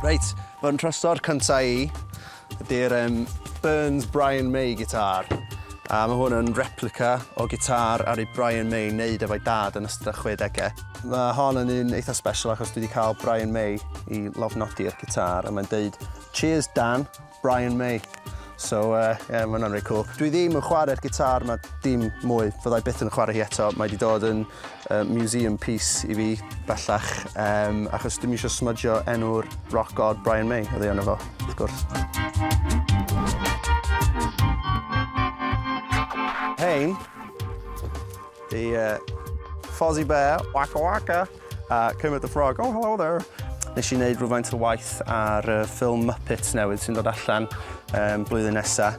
Reit, fy nhrysor cyntaf i ydy'r um, Burns Brian May gitar. A mae hwn yn replica o gitar ar ei Brian May wneud efo'i dad yn ystod 60au. Mae hon yn un eitha special achos dwi wedi cael Brian May i lofnodi'r gitar a mae'n deud Cheers Dan, Brian May. So uh, yeah, mae hwnna'n reit cool. Dwi ddim yn chwarae'r gitar ma dim mwy, fyddai byth yn chwarae hi eto. Mae wedi dod yn uh, museum piece i fi bellach, um, achos dim eisiau smudgio enw'r rock god Brian May, oedd ei ono fo, wrth gwrs. Hein, the uh, Fozzie Bear, Waka Waka. A Kermit the Frog, oh hello there! Nes i wneud rhywfaint o waith ar y ffilm Muppets newydd sy'n dod allan um, blwyddyn nesa,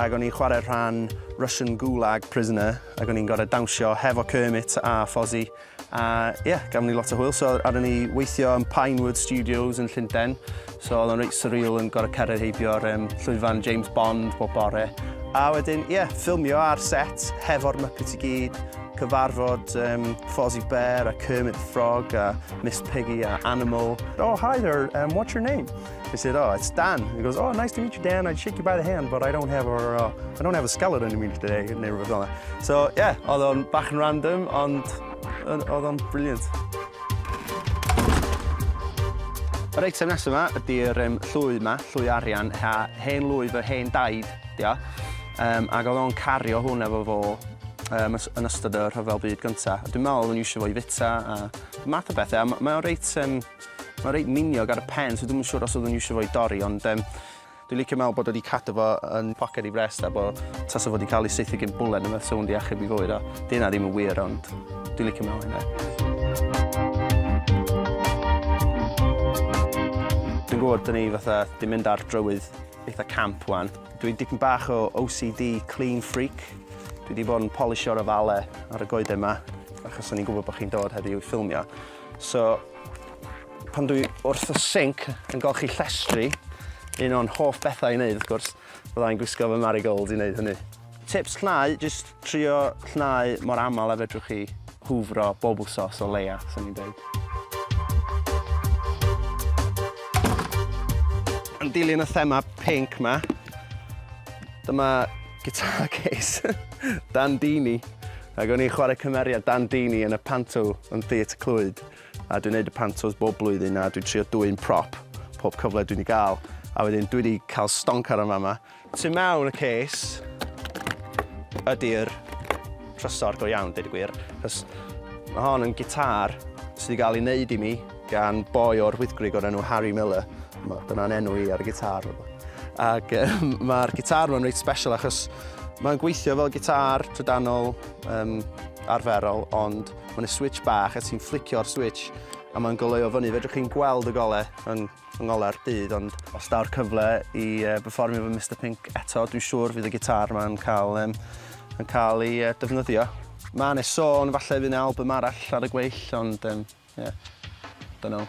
ac o'n i'n chwarae rhan Russian Gulag Prisoner, ac o'n i'n gorau dawnsio hefo Kermit a Fozzie, a ie, yeah, gafon ni lot o hwyl, so ar ni weithio yn Pinewood Studios yn Llundain, So oedd o'n reit surreal yn gorfod cerdded heibio'r um, llwyfan James Bond bob bore. A wedyn, ie, yeah, ffilmio ar set hefo'r Muppets i gyd, cyfarfod um, Fozzie Bear a Kermit the Frog a Miss Piggy a Animal. Oh, hi there, um, what's your name? I said, oh, it's Dan. He goes, oh, nice to meet you, Dan. I'd shake you by the hand, but I don't have a, uh, I don't have a skeleton in me today, neu rhywbeth fel So, yeah, oedd o'n bach yn random, ond Oedd o'n brilliant. Yr eitem nesaf yma ydy'r um, llwy yma, llwy arian, ha, hen lwy fy hen daid, dio. Um, ac oedd o'n cario hwn efo fo um, yn ystod y rhyfel byd gyntaf. Dwi'n meddwl oedd o'n eisiau fo i fita a math o bethau. Mae o'n reit, um, mae reit miniog ar y pen, so dwi'n siŵr os oedd o'n eisiau fo i dorri, ond um, Dwi'n licio meddwl bod o wedi cadw fo yn poced i frest a bod tasa fo wedi cael ei saethu gyn bwlen yma sa hwn achub i fywyd a di hynna ddim yn wir ond dwi'n licio meddwl hynna. Dwi'n gwybod dyn ni fatha di mynd ar drywydd eitha camp wan. Dwi dipyn bach o OCD clean freak. Dwi wedi bod yn polisio'r ofale ar y goeden yma achos o'n i'n gwybod bod chi'n dod heddiw i ffilmio. So, Pan dwi wrth y sinc yn golchi llestri, un o'n hoff bethau i wneud wrth gwrs, fydda i'n gwisgo fy marigold i wneud hynny. Tips llnau, jyst trio llnau mor aml a fedrwch chi, hwfro bob wsos o leia, swn i'n deud. Yn dilyn y thema pinc ma, dyma guitar case Dan Deeny, ac o'n i'n chwarae cymeriad Dan Deeny yn y panto yn Theatr Clwyd. A dwi'n neud y pantos bob blwyddyn a dwi'n trio dwyn prop pob cyfle dwi'n i gael. A wedyn dwi wedi cael stonc ar y fama. Tu mewn y cês ydy'r trysor go iawn, dweud y gwir. Cos mae hon yn gitar sydd wedi cael ei wneud i mi gan boi o'r Wyddgrug o'r enw Harry Miller. Dyna'n enw i ar y gitar. Ac um, mae'r gitar ma'n reit special achos mae'n gweithio fel gitar trydanol um, arferol, ond Mae'n y switch bach a ti'n fflicio'r switch a mae'n goleuo fyny. Fedrwch chi'n gweld y gole yn, yn ngole'r byd, ond os daw'r cyfle i uh, performio fy Mr Pink eto, dwi'n siŵr fydd y gitar mae'n cael, um, yn cael ei uh, defnyddio. Mae yna sôn falle fydd yna album arall ar y gweill, ond um, yeah, don't know.